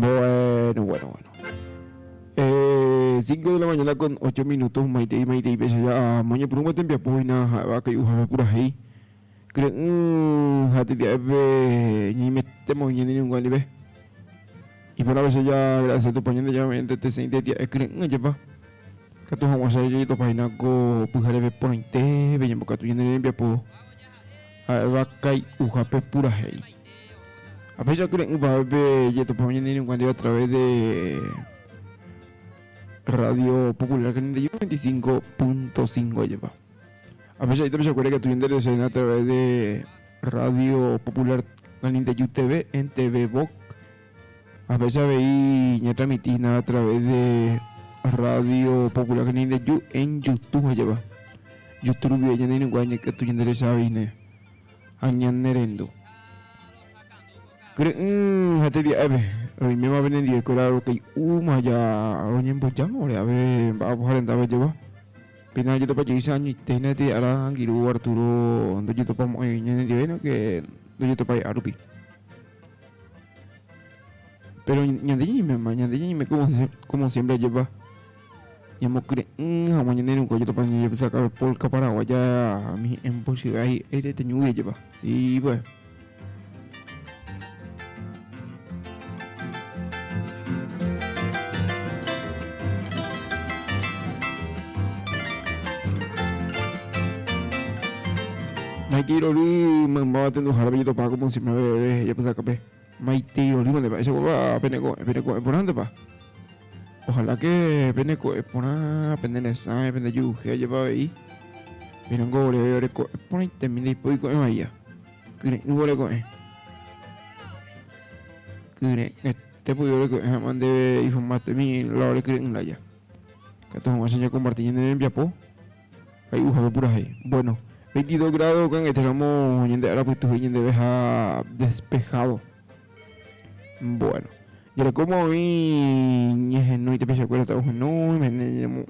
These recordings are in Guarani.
Bueno, bueno, bueno. Eh, 5 de la mañana con 8 minutos, maite y maite y pecha ya moño por un buen tiempo apoyna, va que uja ve pura hei. Creo, mm, hati dia ebe, ni me temo ni ni un guali ve. Y por a veces ya, gracias a tu pañón de ya me entre te sente dia, eh, creo, ya va. Katu hongwa sa yito paina ko pujare ve pointe, ve yembo katu yende ne biapo. Ha'éva kai'uhápe purahéi. Ha péicha kyre'ỹ pave pe jetopa oñe'ẽ iruka ndive a través de Radio Popular 91.25.5 jepa. Ha péicha ita pechakuére katu ñande reserena a través de Radio Popular 91 TV en TV Vox Ha péicha avei ñatramiti hína a través de Radio Popular Cañaindeju en Youtube ha java. Youtube rupi avei ñane irũnguáva ñakatu ñanderecha avei hína ha ñanerendu. Kyre'ỹ ha tedia'épe, roiméma pene ndive kuéra rokay'úma ha ja roñembojáma ore ave mba'apo ha rendápe java. Péina ojetopajeýicha añoite hína tee ára angirũ Arturo ndojetopamo'ãi ñanendive sino que ndojetopa hi'árupi. Péro ñande ñaimema, ñande ñaime kómo siémpre jepa, ñamokyre'ỹ hag̃ua ñane rũnguáicha Tupã ñañembosakávo pólka paraguaya umi hi'ẽmbo chy'a hi'ãite reteñúgui jepa. Sí pues. Maitei rory maymáva tenduhára pejetopa ko Monsimba reveve hejapysakape. Maitei rorýmante mba'eichakuépa pene ko'ẽ, pene ko'ẽ porãntepa. Ohala ke pene ko'ẽ porã, pene resãi, pene juruhe ajépa avei. Péingo oréve ore ko'ẽ porãitemi ndaipóri ko'ẽ vaia. Kyre'ỹvo ore ko'ẽ. Kyre'ỹ. Tepy'u orekyre'ỹ hag̃ua ndéve iformátemi la orekyre'ỹ la aja. Katu hag̃ua che ñakomparti ñane rembiapo hay'uhápe purahéi. Bueno, veintidós grádo kangete ramo ñande ára pytu he'i ñandeveha despehádo. Bueno, jerekóma oĩ ñehenói tapichakuéra ta ohenóime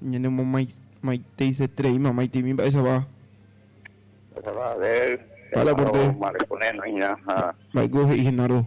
ñanemomaiteisetereíma maitimi mba'éichapa. Mba'éichapa a ver, Henardo Marco-nénoiña ha. Mba'éiko he'i Henardo?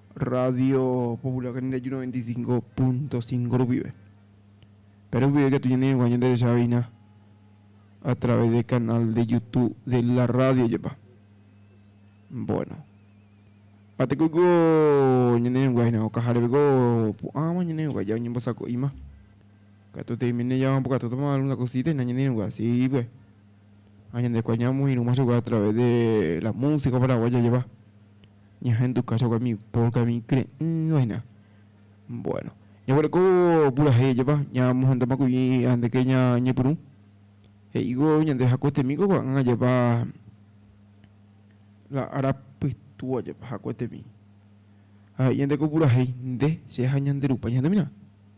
Radio Popular ñandereju noventa y cinco punto cinco rupive. Péro rupive katu ñaneregua ñanderechaveína a través del canal de Youtube de la radio jepa. Bueno. Ha tekóiko ñaneregua hína okaháre peko pu'ãva ñaneregua ja oñembosako'íma. Katuete oiméne ja oñembokatútama algún la cosita hína ñaneregua así pues. Ha ñandekua ñamoirũma chugui a través de la música paraguaya jepa, ñahenduka chugui mi polka, mi kre'ỹva hina. Bueno, ñaguereko purahéi jepa, ñamohendama kuri andeke ñañepyrũ, he'ívo ñande hakuetemi ko ko'ag̃a jepa la ára pytũa jepa hakuetemi. Ha he'i ñande ko purahéi, nde, che ha ñande Rupa ñahendúmina.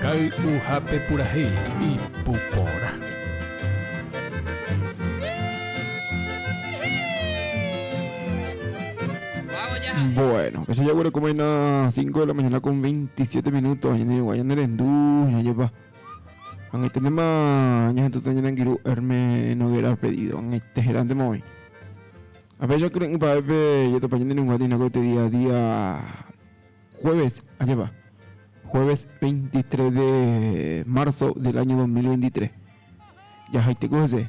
Kay'uhápe purahéi, ipu porã. Bueno, che jaguerekomaína 5 de la mañana con 27 minutos, añenerigua ñanerendu, ñajepa. Ag̃uiténtema ñahenduta ñanangiru Herme Noguera pedido, ag̃uitéherántema oĩ. Apecha kyre'ỹ pa'épe jatopa ñanerenguáta ináko este día a día Jueves ajépa, jueves 23 de marzo del año 2023. Jahaiteko hese.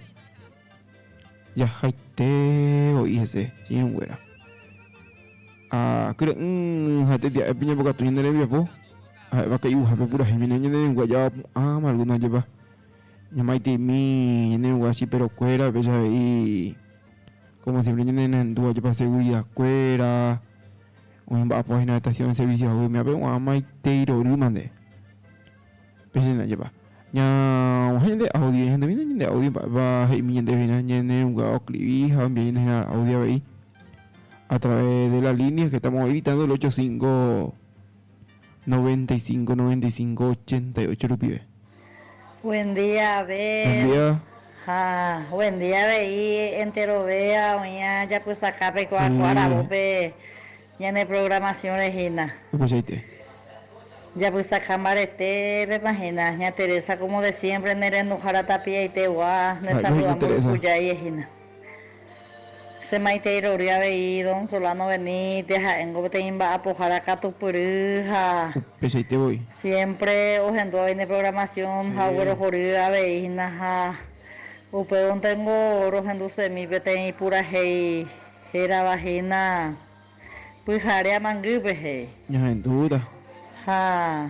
Jahaite voi hese, señorunguéra. Ha kyre'ỹ ha tetia'épe ñambokatu ñane rembiapo, ha'éva kai'uhápe purahéi mene ñanerengua javapu'ãma alguno jepa. Ñamaiteimi ñanerengua chiperokuéra upéicha avei, como siempre ñanenendúva jepa seguridakuéra. Umi mba'apo hína retasiõ en servicio hague umi ápe gua'ã maite irory mante. Péicha hína, jepa. Ña guahẽ ñande audio ñahenduvi hína ñande audio mba'épa he'imi ñandéve hína ñane rũnga oskrivi ha ombiaína hína audio avei a través de la línea que estamos evitando el ocho cinco. Noventa y cinco, noventa y cinco, ochenta y ocho rupive. Buen día Abel. Buen día. Ha buen día avei enterovéva oĩva japysaka peikuaa ko aravo pe ñane programación re hína. Upeichaite. Japysaka mbarete pepa hína ña Teresa como de siempre ne renduhára tapiaite gua ne saluda mburuku jaie hína. Che maitei rory avei don Solano Benítez ha'éngo peteĩ mba'apohára katupyry ha Upeichaite voi. siémpre ohendu avei ne programación ha oguerohory avei hína ha upévontengo rohendusemi peteĩ purahéi hérava hína Pyhare Amangýpe he'i. Ñahendúta. Ha.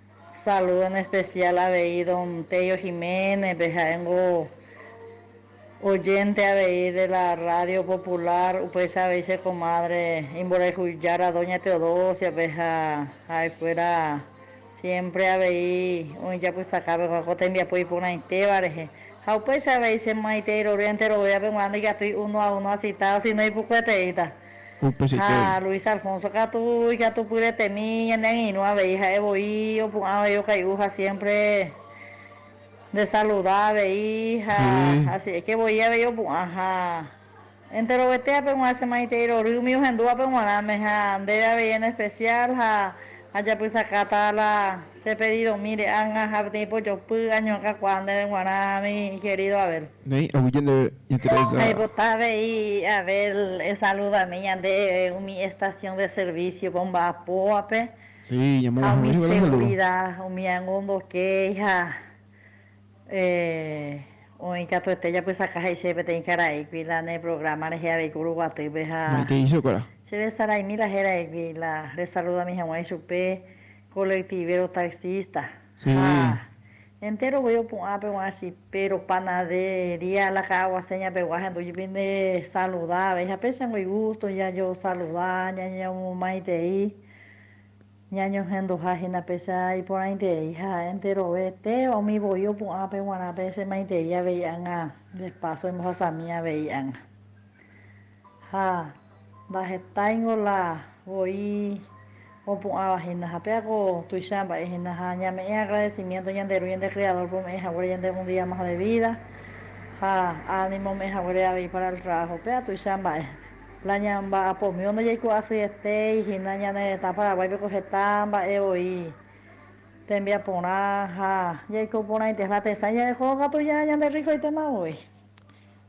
Saludo en especial avei don Tello Jiménez-pe, ha'éngo oyente avei de la radio popular, upéicha avei che comadre imborayhu jára doña Teodosia-pe ha ha'ekuéra siempre avei oĩ japysakápe ko'ã ko tembiapo iporãitéva rehe. Ha upéicha avei che maitei rorýa enterovévape g̃uarã ndaikatúi uno a uno asitado, sino ipukueteíta. Ha Luis Alfonso katu ikatupyretemi ñane angirũ avei ha'e voi opu'ã avei okay'u ha siémpre ndesaluda avei ha asi'éke voi avei opu'ã. Ha enterovete ape g̃uarã che maitei rory umi ohendúvape g̃uarãme ha ndéve avei en espesiál ha ajapysakáta la Che pedidomi re'anga ha peteĩ pojopy añoakakuaa ndéve g̃uarã mi kerido Abel. Néi, aguyje ndéve interesa. Aipota avei Abel esaludami ñande umi estación de servicio ko mba'apóvape ha umi segurida umi añondokéi ha oĩ katuete japysaka he'ise peteĩ karaígui la ne programa rehe avei kuru guatýpe ha che resaraimi la heraigui la resaludami hag̃ua ichupe Colectivero taxista ha entéro voi opu'ã pe guã chipe ropanadería la ka'aguase ñapegua hendu jupi nde saluda avei ha péichango igusto jajo saluda ñañomomaitei ñañohenduha hína péicha iporãitei ha enterove téva umi voi opu'ã pe guarã pe che maitei avei ág̃a despaso embohasami avei ág̃a. Ha ndahetáingo la voi opu'ãva hína. Ha péa ko tuicha mba'e hína. Ha ñame'ẽ agradecimiento ñande Ru ñande Criador-pe ome'ẽ haguére yande un día más de vida, ha ánimo ome'ẽ haguére avei para el trabajo. Péa tuicha mba'e. La ñamba'apomívo ndajaiko asyetéi hína ñane retã Paraguáipe ko heta mba'e voi tembiaporã ha jaiko porãite. La tesãi ñande kóva katu ña ñanderrikoitéma voi.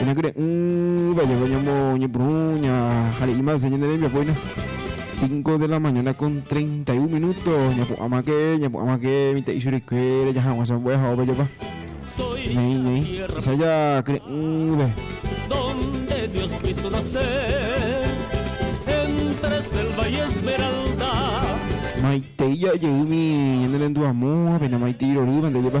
Ñanekyre'ỹva jave ñamoñepyrũ ñahare'ímase ñane rembiapoína. 5 de la mañana con 31 minuto ñapu'ãmake ñapu'ãmake mitã'i churikuére jahag̃ua chambue ha ovejopa. Ñeĩ ñeĩ. Esa jakyre'ỹve. Donde Dios quiso nacer entre selva y esmeralda. Maitei ja'e jeými ñane rendu amo ha péina maitei rorývante jepa.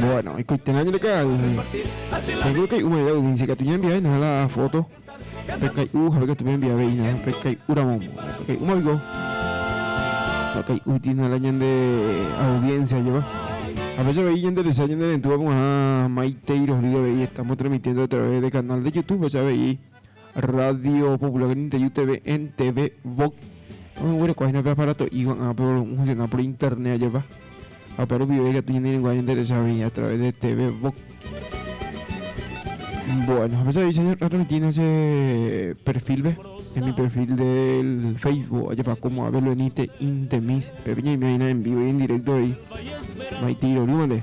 Bueno, ikuitena ñandeka'aguy. Yo creo que una audiencia que tuña enviar nada la foto. Pekai u jabe que tuña enviar veina, pekai ura momo. Pekai uma bigo. Pekai u tiene la ñande audiencia lleva. A veces veía en Teresa, en Terentúa, como a Maite y Rodrigo veía, estamos transmitiendo a través del canal de YouTube, ya veía. Radio Popular Ninteyu TV, NTV, Vox, oguerekoháína pe aparato ígua ã pe volumen funcional por internet ajapa. Ha upe rupive ikatu ñane reinguáva ñande recha avei a través de TV Vox. Bueno, apecha avei che retransmitína che perfilpe, en mi perfil del Facebook ajapa como Abel Benítez Intemis, pepe ñaime aína en vivo y en directo ahí. Maitiro rúmante.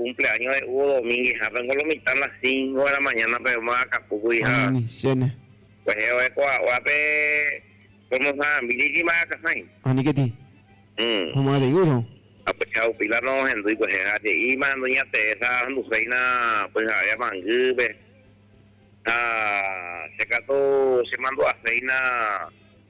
Cumpleaño re'úvo dominguehápe niko lo mitã las cinco de la mañana pe yma akapúkuri ha Añenichéne. kuehe ore ko aua pe promocionambi ni yma akahãi. Aniketi. Uhm. Homo'ãteguýrõ. Ha pe chaupi la nohendýi kuehe ha je'íma doña Teresa ahenduséina pyhare amangýpe ha che katu chemandu'aséina.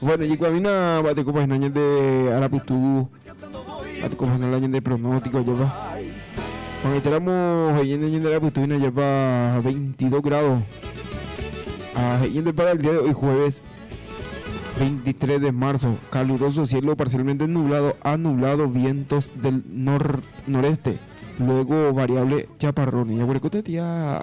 Bueno, yikuamina va'etekopahina ñande arapytugu, va'etekopahina la ñande pronóstico ajepa. Juangaiteramo he'iñende ñande arapytuguina ajepa 22 grado. Ah, he'iñende para el día de hoy jueves 23 de marzo, caluroso cielo parcialmente nublado a nublado, vientos del nor noreste, luego variable chaparrón. Ya por el cote tía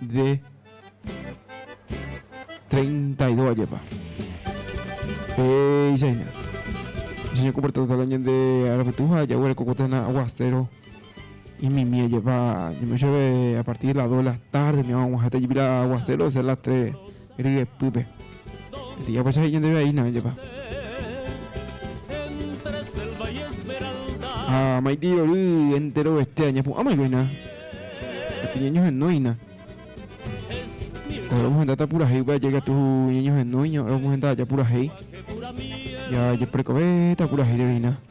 de treinta y dos ajepa. Peichahína. Jañekomporta hag̃ua ñande arapytu ha jaguerekóvo térã aguaséro imimi ajepa. Ñaime oichove a partir de las dos de la tarde oñe'ag̃ua hag̃ua heta jepi la aguaséro osea las tres. Ryepýpe. Peteĩ apocha he'i ñandéve aína oĩjepa. Ha maitei rory enterovete añapu'ãmaikoina. Katu ñañohenóina. Ohero omohendáta purahéi upe aja ikatu ñañohenóiña, ohero omohenda aja purahéi. Jajeprekovéta purahéi rehína.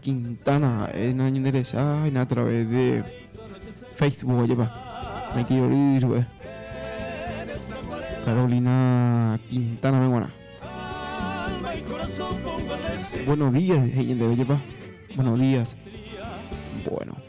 Quintana ha'e na ñande recha ha'éna a través de Facebook ojepa maitei ory chupe Carolina Quintana pe guarã Buenos días he'i ñandéve ojepa Buenos días Bueno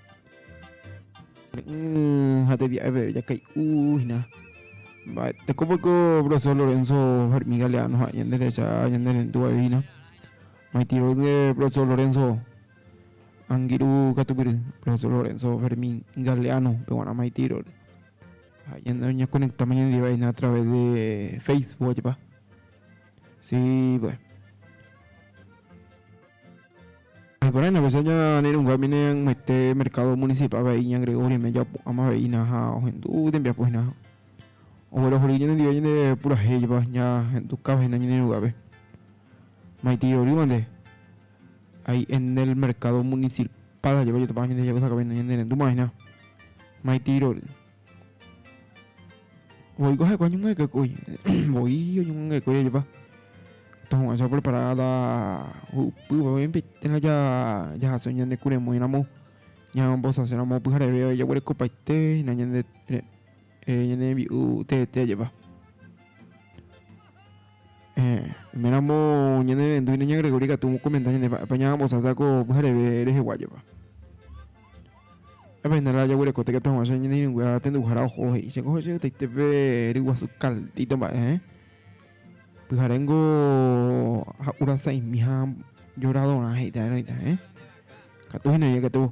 Ne'ỹ ha tedia'eve ojakay'úhina. Vale, teko poko profesor Lorenzo Fermín Galeano ha ñande recha ñande rendu aivina. Maitiro de profesor Lorenzo Angiru Catupiri, profesor Lorenzo Fermín Galeano, peguana maitiro. Ha ñande ña conecta mañande vaina a través de Facebook, ojepa. Sí, pues. Ha'ekuéra hína upéicha ñanerũngue amíne añete mercado municipal vai iña Gregoria me japu'ãma ve'ína ha ohendu tembiapo hína oguerohory ñanendive ñande purahéipa ñahendukáva hína ñanerũngueape maitei rorýmante hay en el mercado municipal ajepéjapa ñande jahusakava'erã ñanerendúma hína maitei rory Voiko ha'ekuéva oñomoingekekói, voi oñomoingekekói ajepa. Tohu'ãicha oprepará la hu'upýva, obviamente térã jahasa ñande kuremóiramo, ñamombosaseramo pyhareve vai jaguerekopaite hína ñande ñande rembi'u teete ajepa. Oiméramo ñane rendu hína ña Gregory katu omokomenta ñandéve ha'épa ña ambosata ko pyhareve rehegua jepa. Ha'épa hína la jaguerekóta ikatu hag̃ua che ñane irũngue ha tenduhára oho he'i che ko hetaite pe ryguasu caldito mba'e heẽ. Pyhare niko ha'ura sa'imi ha lloradorã he'ita erõita heẽ. Katu hína ikatu.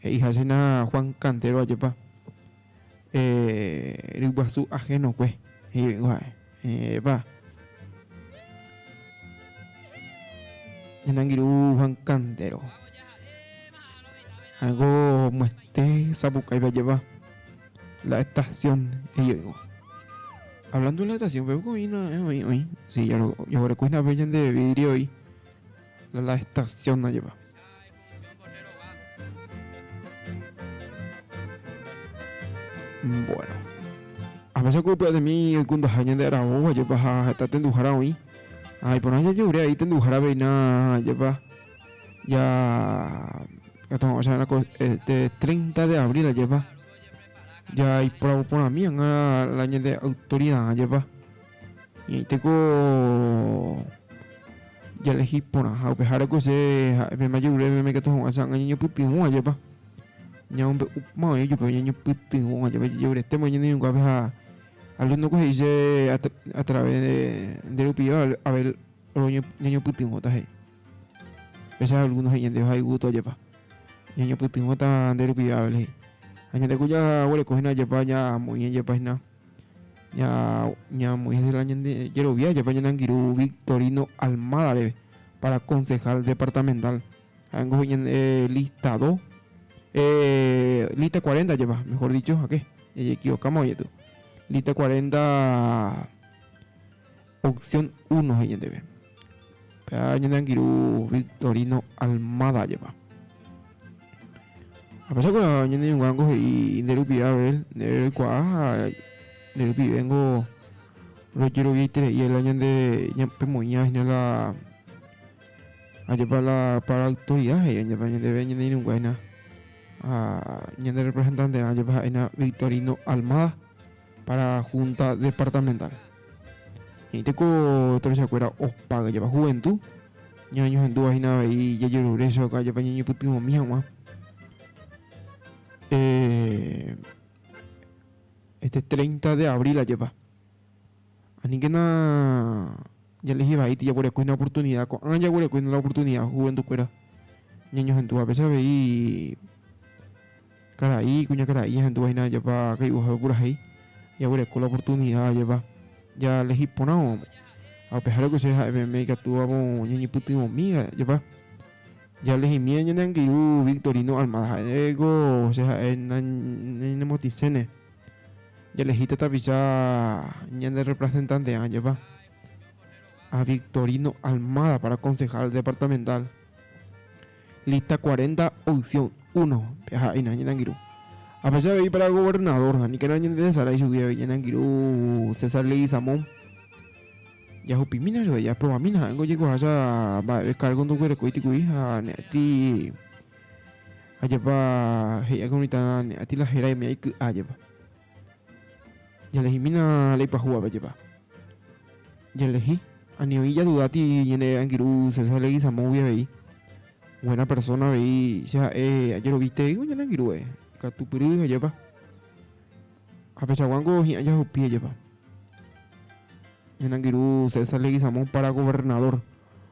He'i ha'éna Juan Cantero ajépa ryguasu ahénokue, he'ive'ỹvo ha'e. Epa, ñanangirũ Juan Cantero, ha'éngo mo'ete sapukaive ajépa la estación, he'ive'ỹvo. Hablando de la estación, peve ko'ína oĩ, oĩ, si jaguerekóina'ape ñande vidrioy, la estación ajépa. Bueno. Apecha ko pya'etemi ykundaha ñande aravo vajepa ha heta tenduhára oĩ. Ha iporã jajehure aĩ tenduhára veina jepa ja katu hag̃ua cha'erã ko este 30 de abril ajepa ja ipravo porãmi hag̃ua la ñande autoridad jepa. Ñaĩtéko jalehi porãha upeháreko che ha'e pe mayor reve peẽme katu hag̃ua cha'anga ñañopytyvõ ajépa ñamombe'u mavẽ ijupe ñañopytyvõ ajépa jajoretéma ñaneirũnguápe ha alumnoko he'i che a través de nde rupiva Abel oro ñañopytyvõta he'i péicha alumno he'i ñandéve ha igusto ajépa ñañopytyvõta nde rupiva Abel he'i ha ñande ku jaguerekohína ajépa ñamoĩ ajépa hína Ñamoĩ hese la ñande jerovia jepe ñande angirũ Victorino Almada reve para concejal departamental. Ha'éngo he'i ñande lista dos, eh, lista cuarenta jepa, mejor dicho, jake, ñañeekivokáma oñe'ẽtu. Lista cuarenta. Opción uno he'i ñandéve, péva ñane angirũ Victorino Almada ajépa. Ahechagua ñane ñuãngo he'i nde rupive Abel, ndéve roikuaa ha nde rupivéngo rojeroviaitereíela ñandéve pemoĩva hína la ajépa la para autoridad he'i ajépa ñandéve ñane irũngue hína ha ñande representanterã ajépa ha'éna Victorino Almada. para Junta Departamental. He'íta ko tuichakuéra opága japa juventud, ñañohendúva hína avei jajerure chóka japa ñañopytyvõmi hag̃ua. Eh, este 30 de abril ajépa. Aníkena jalehi vaíti jaguerekói una oportunidad, ko'ã jaguerekói una oportunidad juventud kuéra ñañohendúvape che avei Karai, kuñakarai jahendúva hína japa kay'uhápe purahéi, jaguereko la oportunida ajépa jalehi porãvoma. Ha upeháre Ocse ha'e peẽme ikatúvapo ñañepytyvõmi ajépa. Jalehimína ñane angirũ Victorino Almada ha'éko Ocse ha'e nañanemotiséne, jalehíta tapicha ñanerepresentante'ã ajépa. Ha Victorino Almada para concejal departamental. Lista cuarenta, opción uno, peha'éina ñanangirũ. Apecha avei para gobernador, aníkena ñanderesarái ichugui avei ñanangirũ César Leguizamón. Jahupimína chupe, japrovamína ha'éngo ojekoháicha mba'eve kárgo ndoguerekói tikuii ha ne'atĩ ajapa he'i'akãva mitã ne'atĩ la héra umi aiky'a ajapa. Jaelehimína léi pyahu avejepa. Jaelehi, ani oĩ jadudáti ñane angirũ César Leguizamóngui avei, buena persona avei che ha'e ajerovitéiko ñane angirũe, ikatupyry ajepa. Ha pechaguángo hi'ã jahupi ajepa. Ñane angirũ César Leguizamón para gobernador.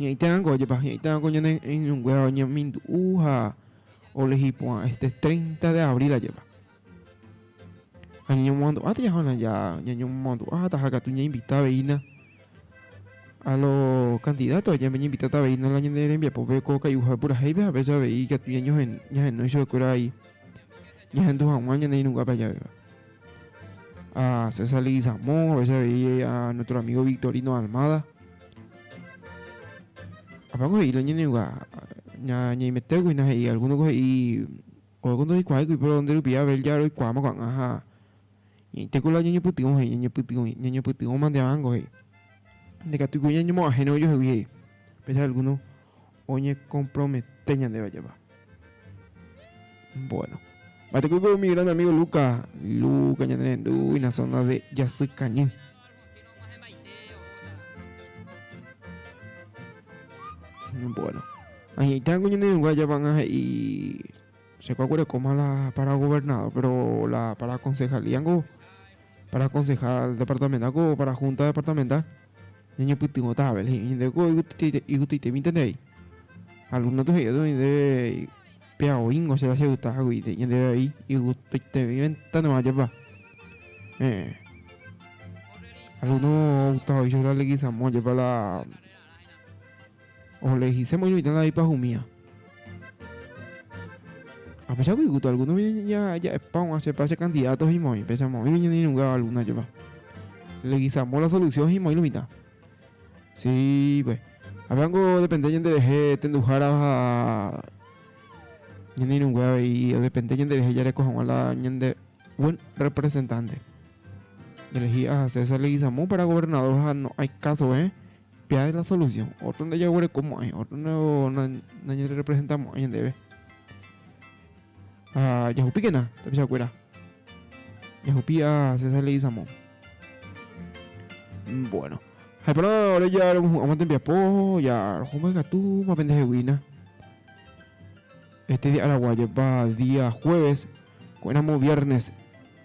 Ñaĩtérãngo ojepa, ñaĩtérãngo ñane irũnguéra oñemindu'u ha olehi porã este treinta de abril ajépa. Ha ñañomomandu'a tajaha'arã ja, ñañomomandu'a ha taha katu ñainvita aveína a lo candidato, ñañinvitáta aveína la ñane rembiapópe ko kai'uhápe purahéipe ha péicha avei ikatu ñañohen, ñahenói chuguekuéra vai ñahendu hag̃ua ñane irũnguápe ajavéva. a César Leguizamón, a veces veía a nuestro amigo Victorino Almada. Apa ko he'i lañene uga ña ñaimete kui na he'i alguno ko he'i o ko ndoikuaái kui pero nde rupi Abel ya roikuaáma ko'ag̃a ha ñaite ko la ñañepytyvõ he'i ñañepytyvõ ñañepytyvõma nde avángo he'i nde katu ku ñañemo'ãhére ojohegui he'i péicha alguno oñekompromete ñande vajéva. Bueno. Mba'etekópiko umi grande amigo Luca. Luca ñande rendúina zona de Jasykañy. Bueno. Añe'ẽta ningo ñande rũnga ajapa'ãnga he'i che kua kuerekóma la para gobernador, pero la para concejalía ningo para concejal departamental ko para junta departamental. ñañopytyvõta jave la hi'año ndéve ko igutyitevínte ndéve. Alumno-pe he'i osẽ ndéve péa oĩngo chéva cheyta hágui ñandéve vai igutyitevĩvéntanema japa. Heẽ. Alumno oguta ho'i Leguizamón japa la Oje'lejiséma oñomitã la ipahumía. Apecha voi guto alguno ja'epa og̃ua chepa che candidato himoĩ, pechama oĩvo ñanerrungáva alguna jepa. Legisamo la solución himoĩ lo mitã. Sí, pues. Avei niko depende ñande rehe tenduhára ha ñanerrungue avei depende ñande rehe jareko haguã la ñande buen representante. Elegí a César Leguizamón para gobernador ha no hay caso, ¿eh? Pe ág̃a la solusiõ. Ótro ndajaguerekomo'ãi, ótro nañanerepresentamo'ãi ñandéve. Ha jahupíkena tapichakuéra. Jahupi a César Leguizamón. Bueno, ha'éporã ore ja remohu'ãma tembiapo, ja roho mba'egatúma pende heguína. Este dia araguájepa día jueves, ko'ẽramo viernes.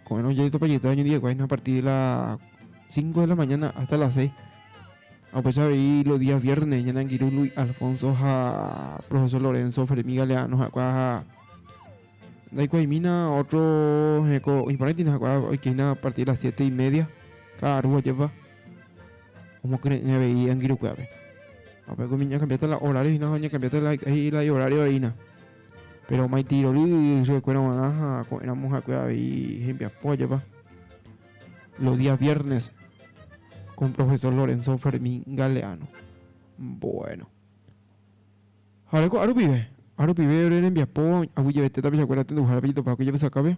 Ko'ẽrõ jajetupa jeta ñandi'ekuái a partir de la cinco de la mañana hasta la seis. Apecha avei los días viernes ñane angirũ Luis Alfonso ha profesor Lorenzo Fermi Galeano ha'ekuéva ha ndaikuaimína otro heko oĩporãitina ha'ekuéva oikehína a partir de las siete y media káda rúva jepa omokyre'ỹ avei angirukuévape. Upépe umi ñakambia hasta la horario hína ha oñakambia hasta la ihorario hína. Péro maiteirory ysyekuéra g̃uarã ha ko'ẽramo ha'ekuéra avei hembiapo ajapa. Los Días Viernes con Profesor Lorenzo Fermín Galeano. Bueno. Ha oreko árupive, árupive ore rembiapo, aguyjevete tapichakuéra tenduhárape jetopákuri Javysakápe.